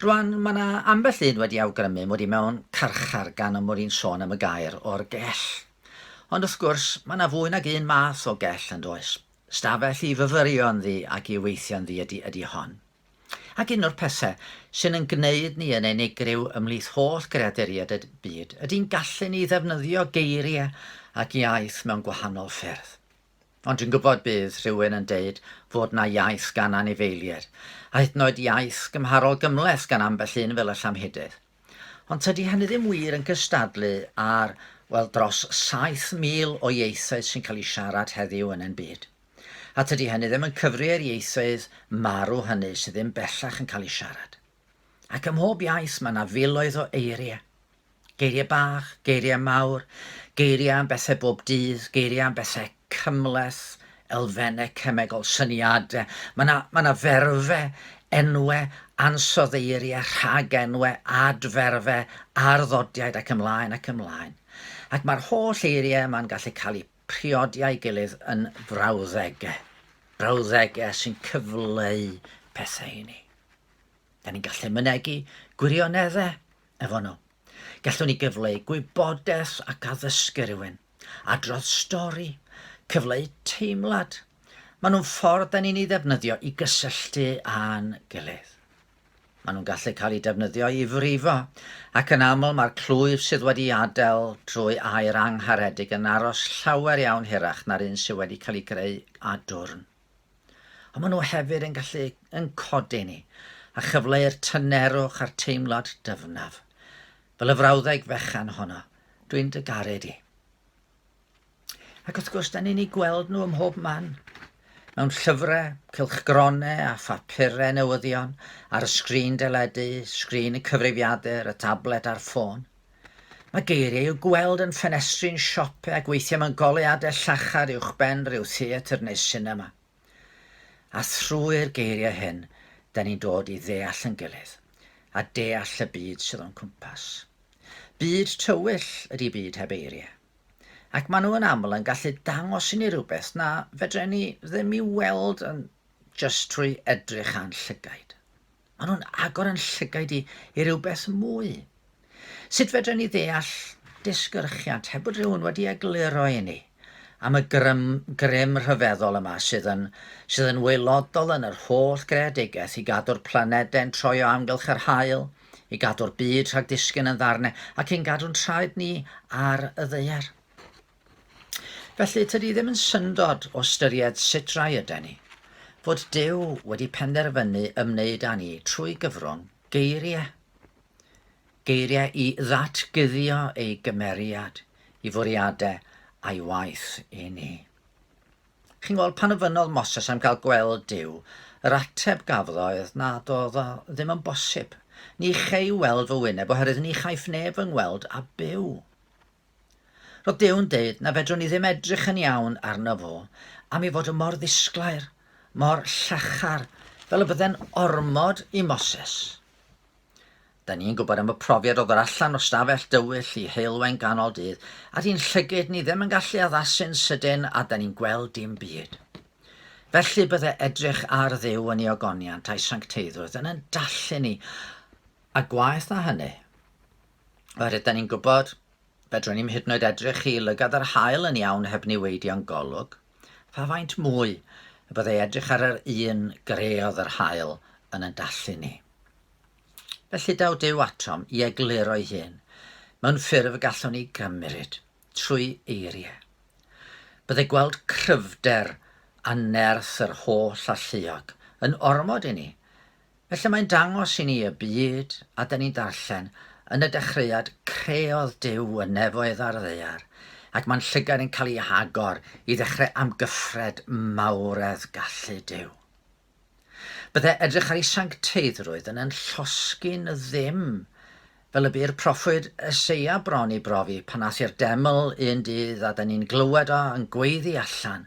Rwan, mae yna ambell un wedi awgrymu mod i mewn carchar gan y mod i'n sôn am y gair o'r gell. Ond wrth gwrs, mae yna fwy nag un math o gell yn does. Stafell i fyfyrio ynddi ac i weithio ynddi ydy, ydy hon. Ac un o'r pethau sy'n yn gwneud ni yn unigryw ymhlith holl greaduriaid y byd ydy'n gallu ni ddefnyddio geiriau ac iaith mewn gwahanol ffyrdd. Ond dwi'n gwybod bydd rhywun yn deud fod 'na iaith gan anifeilied, a hyd yn oed iaith gymharol gymhleth gan ambell un fel y llamhedydd. Ond tydi hynny ddim wir yn cystadlu â'r, wel, dros 7,000 o ieithoedd sy'n cael eu siarad heddiw yn ein byd. A tydi hynny ddim yn cyfri i'r ieithoedd marw hynny sydd ddim bellach yn cael eu siarad. Ac ym mhob iaith mae yna filoedd o eiriau. Geiriau bach, geiriau mawr, geiriau am bethau bob dydd, geiriau am bethau cymhleth, elfennau cemegol, syniadau. Mae yna, mae yna ferfau, enwau, ansoddeiriau, rhagenwau, adferfau, arddodiaid ac ymlaen ac ymlaen. Ac mae'r holl eiriau yma'n gallu cael eu priodi â'i gilydd yn brawddegau. Brawddegau sy'n cyfleu pethau i ni. Da ni'n gallu mynegu gwirioneddau efo nhw. Gallwn ni gyfleu gwybodaeth ac addysgu rhywun, adrodd stori, cyfleu teimlad. Maen nhw'n ffordd da ni'n ei ddefnyddio i gysylltu â'n gilydd. Maen nhw'n gallu cael eu defnyddio i frifo, ac yn aml mae'r clwyf sydd wedi adael drwy aer angharedig yn aros llawer iawn hirach na'r un sydd wedi cael ei greu â dwrn. Ond maen nhw hefyd yn gallu yn codi ni a chyfleu'r tynerwch a'r teimlad dyfnaf. Fel y frawddeg fechan honno, dwi'n dy garu di. Ac wrth gwrs, da ni'n ei gweld nhw ym mhob man. Mewn llyfrau, cylchgronau a phapurau newyddion, ar y sgrin deledu, sgrin y cyfrifiadur, y tablet a'r ffôn. Mae geiriau i'w gweld yn ffenestri'n siopau ac weithiau mewn goleuadau llachar uwchben rhyw theatr neu sinema. A thrwy'r geiriau hyn, da ni'n dod i ddeall yn gilydd, a deall y byd sydd o'n cwmpas. Byd tywyll ydy byd heb eiriau. Ac maen nhw yn aml yn gallu dangos i ni rhywbeth na fedren ni ddim i'w weld yn jyst trwy edrych a'n llygaid. Maen nhw'n agor yn llygaid i, i rhywbeth mwy. Sut fedrwn ni ddeall disgyrchiant heb bod rhywun wedi egluro i ni am y grym, grym rhyfeddol yma sydd yn, sydd yn waelodol yn yr holl greadigaeth i gadw'r planedau'n troi o amgylch yr hael, i gadw'r byd rhag disgyn yn ddarnau ac i'n gadw'n traed ni ar y ddaear. Felly, tydi ddim yn syndod o ystyried sut rai yden ni, fod Duw wedi penderfynu ymwneud â ni trwy gyfrwng geiriau. Geiriau i ddatguddio ei gymeriad, i fwriadau a'i waith i ni. Chi'n gweld, pan ofynnodd Moses am gael gweld Duw, yr ateb gafodd oedd nad oedd o ddim yn bosib. Ni chei weld fy wyneb oherwydd ni chaiff neb fy ngweld a byw. Roedd Duw'n deud na fedrwn ni ddim edrych yn iawn arno fo am ei fod yn mor ddisglair, mor llachar, fel y bydde'n ormod i Moses. Da ni'n gwybod am y profiad o ddod allan o stafell dywyll i heulwen ganol dydd, a di'n llygyd ni ddim yn gallu addasu'n sydyn a da ni'n gweld dim byd. Felly bydde edrych ar Dduw yn ei ogoniant a'i sancteiddrwydd yn yn dallu ni, a gwaeth na hynny, Oherwydd da ni'n gwybod, fedrwn ni'm hyd yn oed edrych i lygad yr haul yn iawn heb niweidio'n golwg. Pha faint mwy y byddai edrych ar yr un greodd yr haul yn yn dallu ni. Felly daw Duw atom i egluro'i hun mewn ffurf y gallwn ni gymryd trwy eiriau. Byddai gweld cryfder a nerth yr holl alluog yn ormod i ni Felly mae'n dangos i ni y byd, a da ni'n darllen, yn y dechreuad creodd Duw y nefoedd a'r ddaear, ac mae'n llygad yn cael ei hagor i ddechrau amgyffred mawredd gallu Duw. Bydde edrych ar ei sancteiddrwydd yn yn llosgi'n ddim, fel y bu'r proffwyd Eseia bron i brofi pan ath i'r deml un dydd a da ni'n glywed o yn gweiddi allan,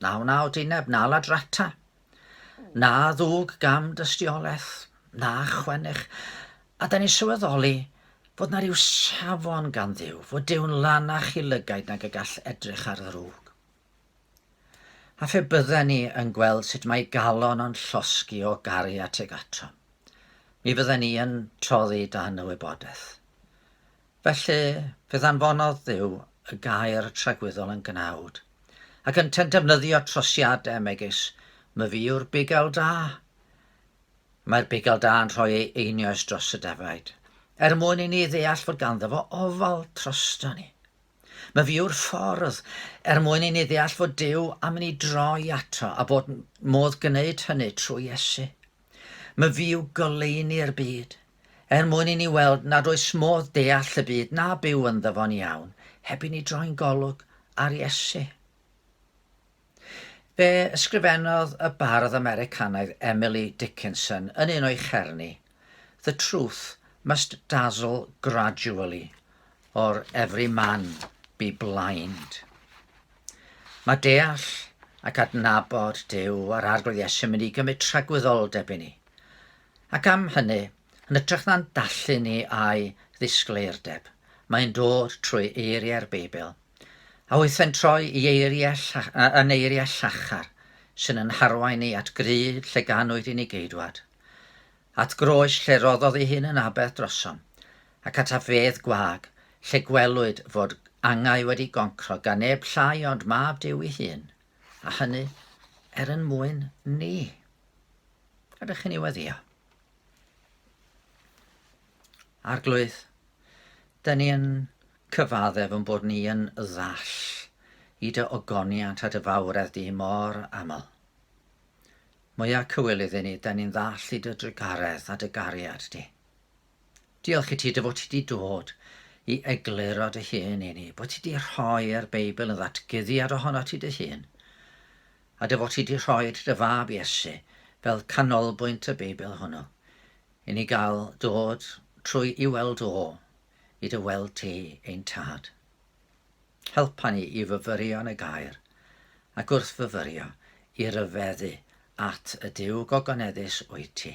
Na wnaw dineb na ladrata, na ddwg gam dystiolaeth, na chwennych, a da ni'n sylweddoli fod na ryw safon gan Dduw, fod Duw'n lanach i lygaid nag y gall edrych ar ddrwg. A phe bydden ni yn gweld sut mae galon o'n llosgi o garu at y gato, mi fydden ni yn toddi dan y wybodaeth. Felly, fe ddanfonodd Dduw y gair tragwyddol yn gnawd, ac yntau'n defnyddio trosiadau megis, Myfi yw'r bugail da. Mae'r bugail da yn rhoi ei einioes dros y defaid, er mwyn i ni ddeall fod ganddo fo ofal trosto ni. Myfi yw'r ffordd, er mwyn i ni ddeall fod Duw am i ni droi ato a bod modd gwneud hynny trwy Iesu. Mae fi yw goleuni'r byd, er mwyn i ni weld nad oes modd deall y byd na byw ynddo fo'n iawn heb i ni droi'n golwg ar Iesu. Fe ysgrifennodd y bardd Americanaidd Emily Dickinson yn un o'i cherni, The truth must dazzle gradually, or every man be blind. Mae deall ac adnabod Duw a'r Arglwydd Iesu yn mynd i gymryd tragwyddoldeb i ni, ac am hynny, yn ytrach na'n dallu ni a'i ddisgleirdeb, mae'n dod trwy eiriau'r Beibl, a weithau'n troi i eiriau, yn eiriau llachar sy'n yn harwain ni at gryd lle ganwyd i ni geidwad, at groes lle roddodd ei hun yn aberth drosom, ac at afieydd gwag, lle gwelwyd fod angau wedi goncro gan neb llai ond Mab Duw ei hun, a hynny er yn mwyn ni. Ydych chi'n ei weddio? Arglwydd, dyn ni yn cyfaddef yn bod ni yn ddall i dy ogoniant a dy fawredd di mor aml. Mwyaf cywilydd i ni, dyn ni'n ddall i dy drugaredd a dy gariad di. Diolch i ti dy fod ti wedi dod i egluro dy hun i ni, bod ti wedi rhoi'r Beibl yn ddatguddiad ohono ti dy hun, a dy fod ti wedi rhoi dy fab Iesu fel canolbwynt y Beibl hwnnw, i ni gael dod trwy i weld o, i dy weld ti ein tad. Helpa ni i fyfyrio yn y gair, ac wrth fyfyrio, i ryfeddu at y Dyw gogoneddus wyt ti.